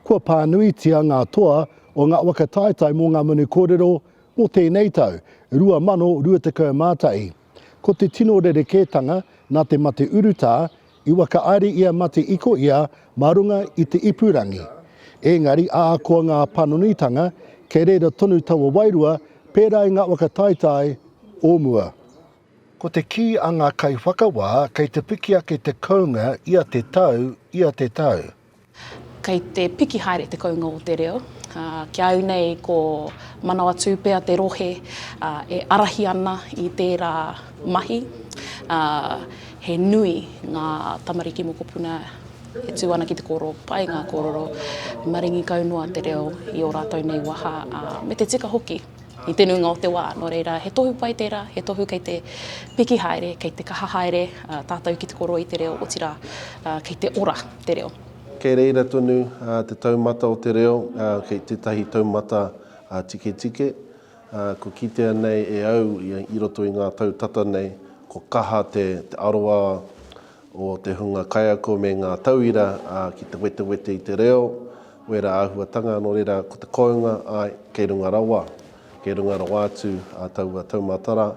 Kua pānuitia ngā toa o ngā waka taetae mō ngā manu kōrero mō tēnei tau, 2021. Ko te tino rerekētanga nā te mate urutā I whakaari ia mate iko ia mā runga i te ipurangi. Ēngari ahakoa ngā panonitanga, kei reira tonu taua wairua pērā i ngā waka taetae o mua. Ko te kī a ngā kaiwhakawā kei te piki ake te kounga ia te tau, ia te tau. Kei te piki haere te kounga o te reo, ā, ki a au nei ko Manawatūpea te rohe, ā, e ārahi ana i tērā mahi, ā, he nui ngā tamariki mokopuna e tū ana ki te kōrero pai ngā kōrero, maringi kau noa te reo i ō rātou nei waha, ā, me te tika hoki. i te nuinga o te wā. Nō reira, he tohu pai tērā, he tohu kei te piki haere, kei te kaha haere tātou ki te koroi te reo, otirā, kei te ora te reo. Kei reira tonu te taumata o te reo, kei tētahi taumata tiketike. Kua kitea nei e au i roto i ngā tau tata nei, kua kaha te aroā o te hunga kaiako me ngā tauira ki te wetewete i te reo, wera āhuatanga nō reira ko te kounga, āe, kei runga rawa, kei runga rawa atu taua taumātara.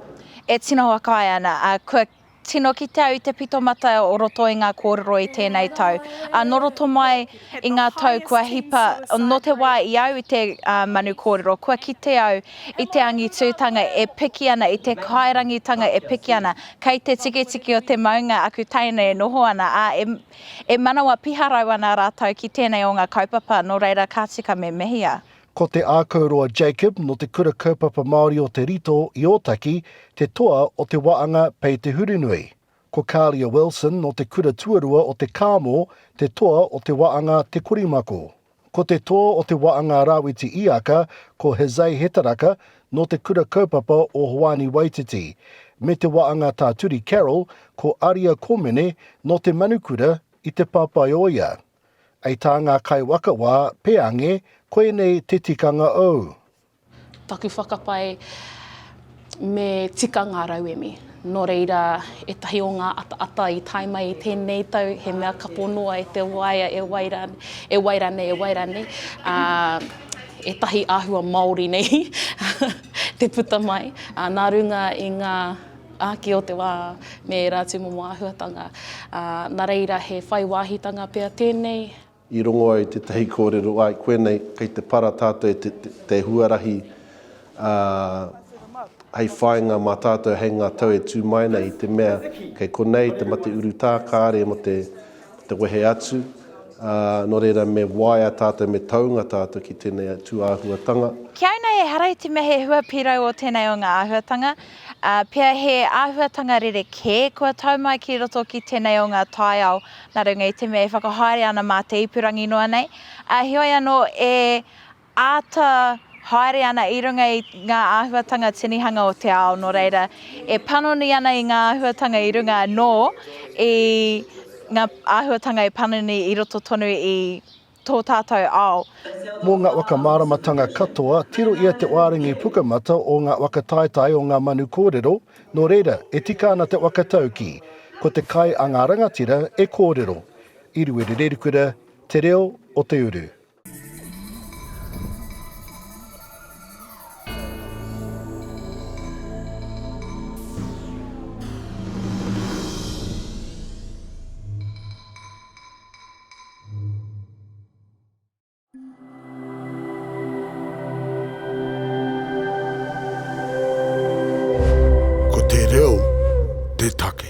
E tino whakaae ana, ā, kua tino kite au i te pitomata o roto i ngā kōrero i tēnei tau, ā, nō roto mai I ngā tau kua hipa, nō te wā i au i te manu kōrero, kua kite au i te angitūtanga e piki ana, i te kairangitanga e piki ana. Kei te tikitiki o te maunga aku teina e noho ana, ā, e manawa piharau ana rātou ki tēnei o ngā kaupapa, nō reira ka tika me mehia. Ko Te Ākauroa Jacob nō Te Kura Kaupapa Māori o Te Rito i Ōtaki te toa o te waanga Pei Te Hurunui. Ko Kalia Wilson nō te kura tuarua o Te Kāmo, te toa o te waanga Te Korimako. Ko te toa o te waanga Rawiti Iaka ko Jose Hetaraka nō te kura kaupapa o Hoani Waititi, me te waanga Tā Turi Carroll ko Aria Komene nō te manukura i Te Papaioea. Ei tā ngā kaiwaka wā, Peange, koinei te tikanga ou. Taku whakapae, me tika ngā rauemi. Nō reira, ētahi o ngā ataata i tae mai i tēnei tau, he mea kapo noa e te waea, e wai rā, e wai rānei, e wai rānei, ā, ētahi āhua Māori nei te puta mai, ā, nā runga i ngā āki o te wā me ērā tūmomo āhuatanga, ā, nā reira he whai wāhitanga pea tēnei. I rongo ai tētahi kōrero, āe, koe nei, kei te para tātou e te huarahi hei whāinga mā tātou hei ngā tau e tū mai nei i te mea kei konei te mate urutā kāre mō te wehe atu, ā, nō reira me waea tātou, me taunga tātou ki tēnei tū āhuatanga. Ki au nei ehara i te mea he hua pīrau o tēnei o ngā āhuatanga, ā, pea he āhuatanga rerekē kua tau mai ki roto ki tēnei o ngā taiao nā runga i te mea e whakahaere ana mā te ipurangi noa nei, ā, heoi anō e āta haere ana i runga i ngā āhuatanga tinihanga o te ao, nō reira, e panoni ana i ngā āhuatanga i runga anō i ngā āhuatanga e panoni i roto tonu i. tō tātou ao. Mō ngā waka māramatanga katoa, tiro ia te wārengi pukamata o ngā waka taetae o ngā manu kōrero, nō reira, e tika ana te waka taukī, ko te kai a ngā rangatira e kōrero. I Ruerererikura, Te Reo o te Uru. Ko te reo te take.